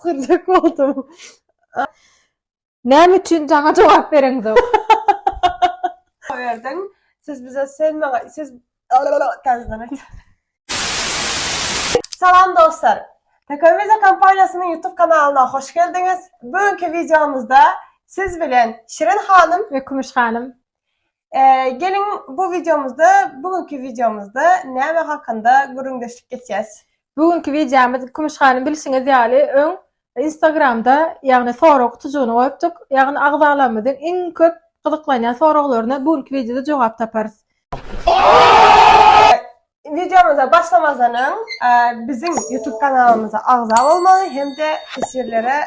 Gürjek oldum. Näme üçin jaňa jogap bereňzok? Berdiň. Siz bize sen maňa siz Salam dostlar. Tekoviza kompaniýasynyň YouTube kanalyna hoş geldiňiz. Bu günki videomyzda siz bilen Şirin hanym we Kümüş hanym Geliň bu wideomyzda, bu günki wideomyzda näme hakynda gürrüňdeşlik geçýäs? Bu günki wideomyz Kümüş hanym bilşiňiz ýaly öň Instagramda ýagny sorag gutujygyny goýupdyk. Ýagny agzalarymyzyň iň köp gyzyklanýan soraglaryna bu günki wideoda jogap taparys. Wideomyza başlamazdan öň biziň YouTube kanalymyza agza bolmagy hem-de teswirlere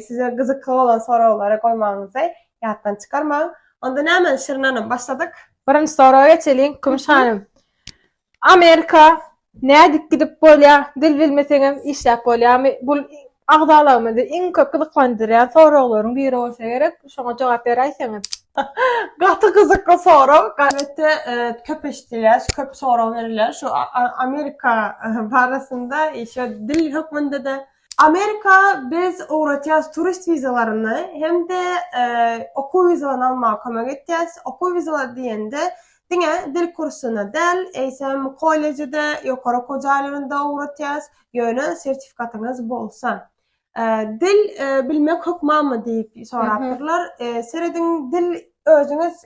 size gyzykly bolan soraglary goýmagyňyzy ýatdan çykarmaň. Onda näme Şirin hanym başladyk? Birinji soraga geçeliň Kümüş hanym. Amerika nädip gidip bolýar? Dil bilmeseňem işläp bolýarmy? Bu Agzalarymyzy iň köp gyzyklandyrýan soraglaryň biri bolsa gerek, şoňa jogap beräýseňiz. Gaty gyzykly sorag. Gazetde köp eşidilýär, köp sorag berilýär şu Amerika barasynda, şo dil hökmünde-de. Amerika biz ugratýas turist wizalaryny hem-de okuw wizalaryny almaga kömek etýäs. Okuw wizalary diýende diňe dil kursyna däl, eýsem kolleje-de, ýokary okuw jaýlaryna-da ugratýas. ýöne sertifikatyňyz bolsa. Dil bilmek hökmanmy diýip sorapdyrlar. Serediň dil özüňiz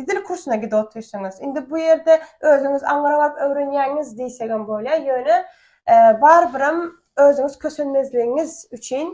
dil kursuna gidip otyrsyňyz. Indi bu ýerde özüňiz aňyra baryp öwrenýäňiz diýsegem bolýar. Ýöne barybir hem özüňiz kösenmezligiňiz üçin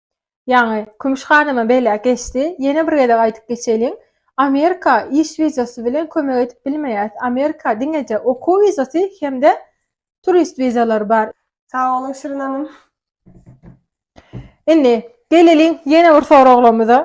Ýaňy Kümüş hanymam beýläk geçdi. Ýene bir gezek aýdyp geçeýlin. Amerika iş wizasy bilen kömek edip bilmeýäs. Amerika diňeje okuw wizasy hem-de turist wizalary bar. Sag boluň Şirin hanym. Indi geleliň ýene bir soraglamyza.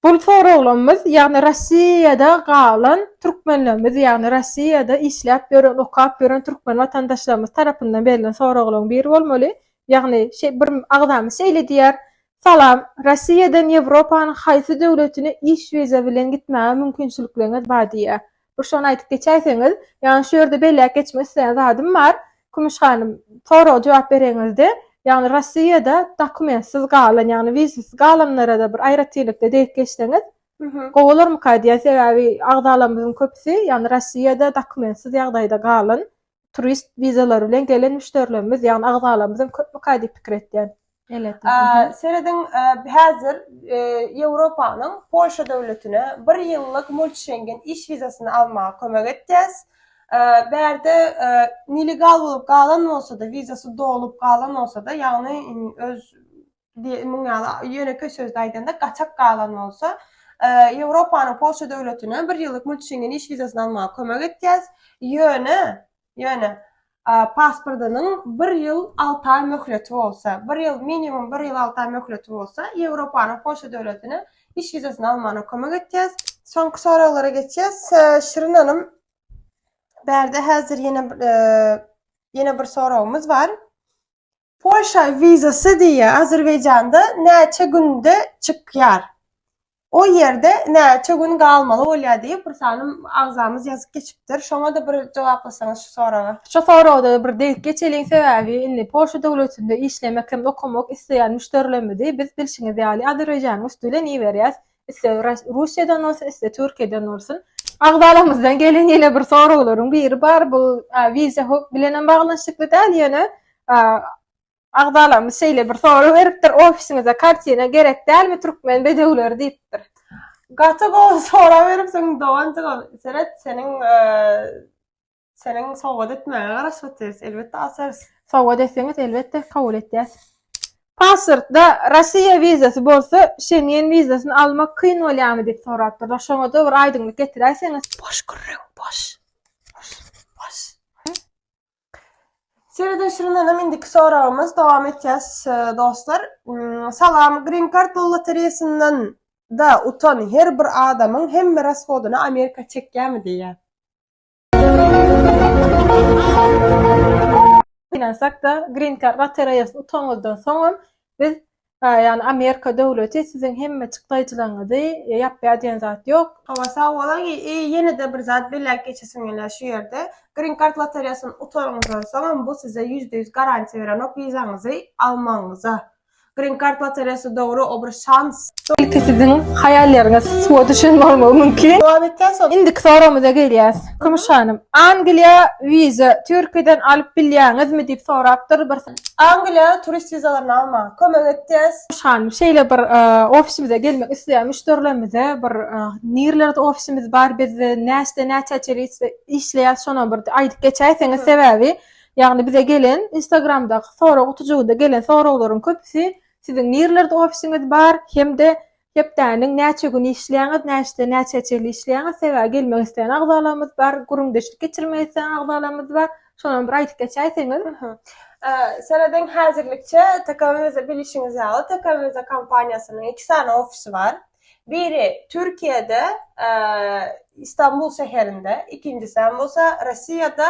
Bul soraglarymyz, ýagny Rossiýada galan türkmenlerimiz, ýagny Rossiýada işläp ýören, okap ýören türkmen watandaşlarymyz tarapyndan berlen soraglaryň biri bolmaly. Ýagny şeý bir agzamyz şeýle diýýär, Salam, Rossiýadan Ýewropanyň haýsy döwletine iş wiza bilen gitmäge mümkinçilikleriňiz bar diýýär. Bir şony aýdyp geçäýseňiz, ýagny şu ýerde belläp geçmek isleýän zadym bar, Kümüş hanym, soraga jogap bereňizde, ýagny Rossiýada dokumentsiz galan, ýagny wizasiz galanlara-da bir aýratynlykda degip geçseňiz, gowy bolarmyka diýýän, sebäbi agzalarymyzyň köpüsi, ýagny Rossiýada dokumentsiz ýagdaýda galan, turist wizalary bilen gelen müşderilerimiz, ýagny agzalarymyz hem köpmüka diýip pikir etýän. Serediň, häzir Ýewropanyň Polşa döwletine bir ýyllyk multischengen iş wizasyny almaga kömek etýäs. Bärde nelegal bolup galan bolsa-da, wizasy dolup galan bolsa-da, ýagny öz diýip muň ýaly ýönekeý sözde aýdanda gaçak galan bolsa Ýewropanyň Polşa döwletine bir ýyllyk mult şengen iş wizasyny almaga kömek etýäs ýöne ýöne pasportynyň bir ýyl alty aý möhleti bolsa bir ýyl minimum bir ýyl alty aý möhleti bolsa Ýewropanyň Polşa döwletine iş wizasyny almagyna kömek etýäs. Soňky soraglara geçýäs. Şirin hanym bärde häzir ýene ýene bir soragymyz bar. Polşa wizasy diýýär. Azerbaýjanda näçe günde çykýar? O ýerde näçe gün galmaly bolýar diýip bir sany agzamyz ýazyp geçipdir. Şoňa-da bir jogaplasaňyz şu soraga. Şu soragda bir degip geçeliň sebäbi indi Polşa döwletinde işlemek hem okamak isleýän müşderilerimizi biz bilşiňiz ýaly Azerbaýjanyň üsti bilen iberýäs. iste Russiýadan bolsun, iste Türkiýeden bolsun. Agzalarymyzdan gelen ýene bir soraglaryň biri bar. Bu wiza hukuk bilen hem baglanyşykly däl, ýöne agzalarymyz şeýle bir sorag beripdir, ofisiňize kartina gerek dälmi, türkmen bedewleri diýipdir. Gaty gowy sorag beripsiň doganjygym. Seret, seniň Seniň sowgat etmäňe garaşyp otyrs, elbetde açarys. Sowgat etseňiz elbetde kabul etýäs. Pasportda Rossiýa wizasy bolsa Şengen wizasyny almak kyn bolýarmy diýip sorapdyrlar. Şoňada bir aýdyňlyk getiräýseňiz. Boş gürrüň, boş. Boş, boş. Seredişimdenem indiki soragymyz dowam etýäs dostlar. Salam, Green Card pul lotereýasyndan da utan her bir adamyň hemme rashodyny Amerika çekýärmi diýýär. Ynansak-da, Green Card lotereýasyny utanyňyzdan soňam, biz, ýagny Amerika döwleti siziň hemmeçik daýyjylaryňyzy ýapýar diýen zat ýok. Hawa, sag boluň. Ýene-de bir zat belläp geçesim gelýär şu ýerde. Green Card lotereýasyny utanyňyzdan soňam, bu size ýüzde ýüz garantiýa berenok wizaňyzy almagyňyza. Green Card lotereýasy dogry obr şans. Ilki siziň haýallaryňyz suwa düşen bolmagy mümkin. Jogap etýän soň indiki soragymyza gelýäs. Kümüş hanym, Angliýa wiza Türkiýeden alyp bilýäňizmi diýip sorapdyr bir. Angliýa turist wizalaryny almaga kömek etýäs. Kümüş hanym, şeýle bir ofisimize gelmek isleýän müşderilerimize bir nirlerde ofisimiz bar biz näçeden näçä çenli işleýäs şonam bir aýdyp geçäýseňiz sebäbi Ýagny bize gelen instagramdaky sorag gutujygyda gelen soraglaryň köpüsi siziň nirlerde ofisiňiz bar hem-de hepdäniň näçe güni işleýäňiz näçeden näçä çenli işleýäňiz sebäbi gelmek isleýän agzalarymyz bar gürrüňdeşlik geçirmek isleýän agzalarymyz bar şonam bir aýdyp geçäýseňiz. Serediň häzirlikçe tkwmz bilişiňiz ýaly tkwmz kompaniýasynyň iki sany ofisi bar biri türkiýede istanbul şäherinde ikinjisem bolsa rossiýada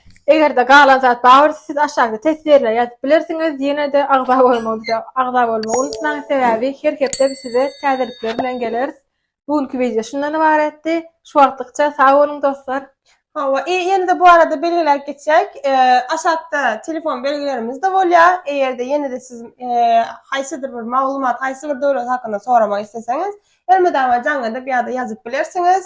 Eger-de galan zat bar bolsa siz aşakda teswirler ýazyp bilersiňiz. Ýene-de agza bolmagy agza bolmagy unutmaň, sebäbi her hepde biz size täzelikler bilen geleris. Bu günki wideo şundan ybaratdy. Şu wagtlykça sag boluň dostlar. Hawa, i ýene-de bu barada belgiläp geçäýik, aşakda telefon belgilerimiz-de bolýar, eger-de ýene-de siz haýsydyr bir maglumat, haýsy bir döwlet hakynda soramak isleseňiz, elmydama jaň edip ýa-da ýazyp bilersiňiz.